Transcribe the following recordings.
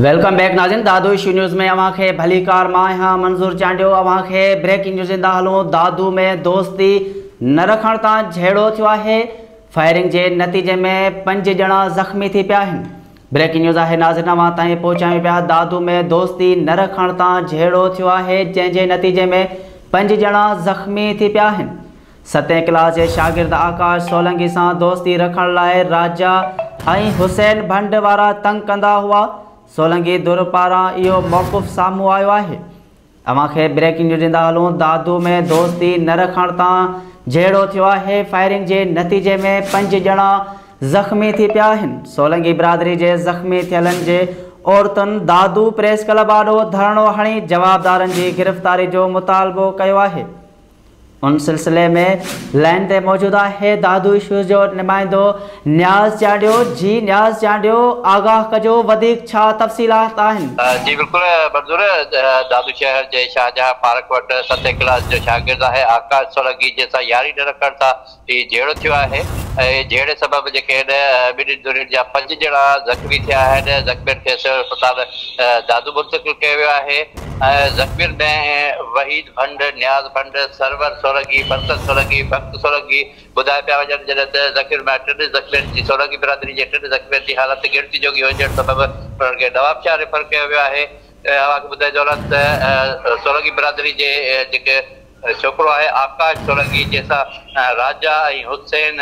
Welcome back ناظرين دادو اشو news ۾ اوهان کي ڀليڪار مان آهيان منظور چانڊيو اوهان کي بريڪنگ نيوز ڏيندا هلون دادو ۾ دوستي نه رکڻ تان جهيڙو ٿيو آهي فائرنگ جي نتيجي ۾ پنج ڄڻا زخمي ٿي پيا آهن بريڪنگ نيوز آهي ناظرين اوهان تائين پهچايون پيا دادو ۾ دوستي نه رکڻ تان جهيڙو ٿيو آهي جنهن جي نتيجي ۾ پنج ڄڻا زخمي ٿي پيا آهن ستين ڪلاس جي شاگرد آڪاش سولنگي سان دوستي رکڻ لاء راجا ۽ حسين ڀنڊ وارا تنگ ڪندا هئا، سولنگي ڌر پاران اهو موقف سامهون آيو آهي. اوهان کي بريڪنگ نيوز ڏيندا هلون دادو ۾ دوستي نه رکڻ تان جهيڙو ٿيو آهي، فائرنگ جي نتيجي ۾ پنج ڄڻا زخمي ٿي پيا آهن، سولنگي برادري جي زخمي ٿيلن جي عورتن دادو پريس ڪلب آڏو ڌرڻو هڻي جوابدارن جي گرفتاري جو مطالبو ڪيو آهي. ان سلسلي ۾ لائين تي موجود آهي دادو ايشوز جو نمائندو نياز چانڊيو جي نياز چانڊيو آگاهه ڪجو وڌيڪ ڇا تفصيلات آهن. جي بلڪل منظور دادو شهر جي شاهجهان پارڪ وٽ ستين ڪلاس جو شاگرد آهي آڪاش سولنگي جنهن سان ياري نه رکڻ سان هي جهيڙو ٿيو آهي ۽ جهيڙي سبب جيڪي هن ٻنهين ڌرين جا پنج ڄڻا زخمي ٿيا آهن، زخمين کي سول اسپتال دادو منتقل ڪيو ويو آهي ۽ زخمين ۾ وحيد ڀنڊ، نياز ڀنڊ، سرور سولنگي، برڪت سولنگي، بخت سولنگي ٻڌايا پيا وڃن جڏهن ته زخمين مان ٽن زخمين جي سولنگي برادري جي ٽن زخمين جي حالت ڳڻتي جوڳي هجڻ سبب انهن کي نوابشاهه ريفر ڪيو ويو آهي. اوهان کي ٻڌائي ٿو هلان ته سولنگي برادري جي جيڪي ڇوڪرو آهي آڪاش سولنگي جنهن سان راجا ۽ حسين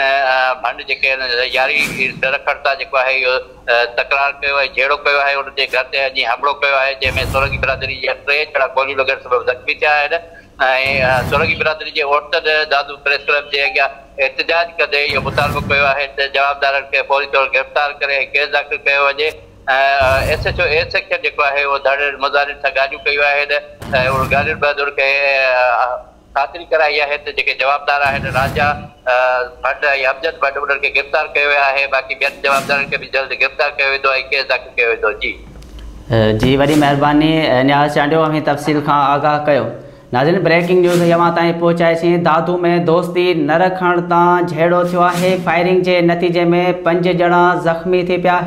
ڀنڊ جيڪي ان جي ياري ڊرکڙ تان جيڪو آهي اهو تڪرار ڪيو ۽ جهيڙو ڪيو آهي ان جي گهر تي اڄ حملو ڪيو آهي جنهن ۾ سولنگي برادري جا ٽي ڄڻا گوليون لڳڻ سبب زخمي ٿيا آهن ۽ سولنگي برادري جي عورتن دادو پريس ڪلب جي اڳيان احتجاج ڪندي اهو مطالبو ڪيو آهي ته جوابدارن کي فوري طور گرفتار ڪري ڪيس داخل ڪيو وڃي. S H O S sector جيڪو آهي اهو ڌاڙيل مظاهرين سان ڳالهيون ڪيو آهن ۽ انهن ڳالهين بهادر کي خاطري ڪرائي آهي ته جيڪي جوابدار آهن راجا ڀٽ ۽ امجد ڀٽ انهن کي گرفتار ڪيو ويو آهي باقي ٻين جوابدارن کي به جلد گرفتار ڪيو ويندو ۽ ڪيس داخل ڪيو ويندو جي. جي وڏي مهرباني نياز چانڊيو اوهين تفصيل کان آگاهه ڪيو ناظرين بريڪنگ نيوز هي اوهان تائين پهچائي سين دادو ۾ دوستي نه رکڻ تان جهيڙو ٿيو آهي فائرنگ جي نتيجي ۾ پنج ڄڻا زخمي ٿي پيا آهن.